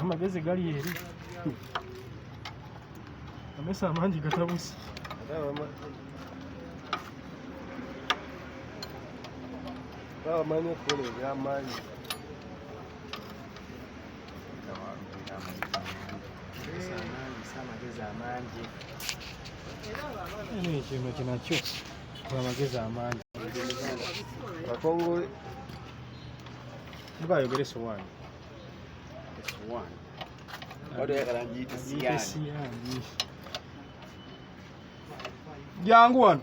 amagezi gali eri amesa amangi gatabusi babamanyi okukola ebyamaanyi kino kinakyo amagezi amangi akongole mubayogere sowani sowani jangu wano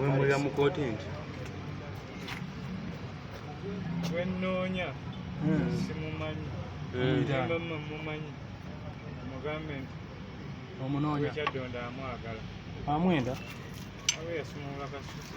Wemulira mu kooti nti wennoonya hmm. simumanyi mama hmm. mumanyi mugambe nti omunoonya kyaddonda amwagala amwenda abe yasumulula kasusi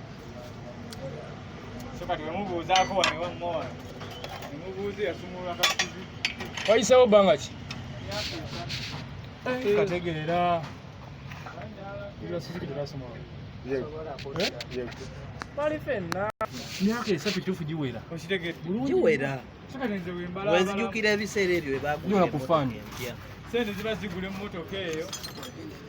wayisewo bbanga ki eh, kategeera myaka esatu kituufu giwera giwera wenzijukira ebiseera ebyo webakufaanyi sente ziba zigula emmotoka eyo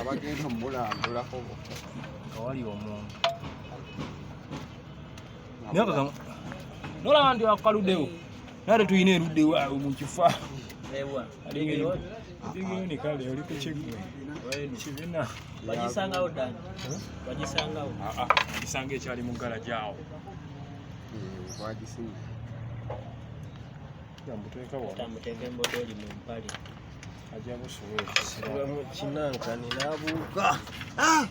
abagenda omulambulako kawali omuntu nolaba nti akaludewo nate tulina erudde waawe mu kifa bigiyoni kale oli ku kiggwe kibina bagisangawo dan bagisangawo gisanga ekyali mu ggala gyawo wagisinga mbuteeka wa mbuteeka embodooli mu mpale ajja busuwa ekisira mu kinankani n'abuuka ah!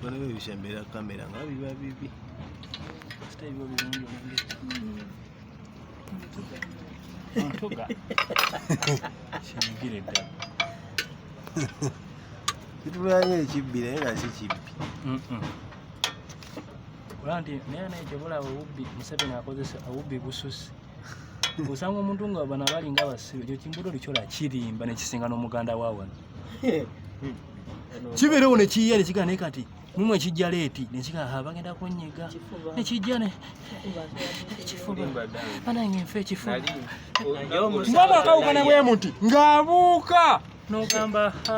ebikono byo bisembera kamera nga biba bibi sita ebiba birungi omange ntuga kinyigire ddala kitulayo ekibbi naye nga si kibbi olaba nti naye naye kyebulaba obubbi museveni akozesa obubbi bususi osanga omuntu nga bana balinga abasibe ekyo kimbuto likyola kirimba nekisinga n'omuganda wawano kibeerewo nekiyiya nekigaa naye kati mumu ekijja leeti nekigaa ha bagenda kunyiga nekijja ekifuba banange nfe ekifuba mwana akawukana bwe muti ng'abuuka n'ogamba ha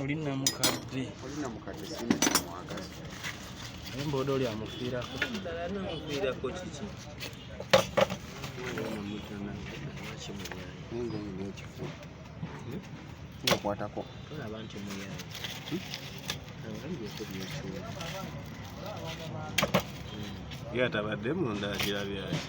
oli namukadde oli namukadde sina kimwagaza naye mboda oli amufiirako ddala namufiirako kiki okwatako tolaba nti muyaye ye atabadde munda agira byaki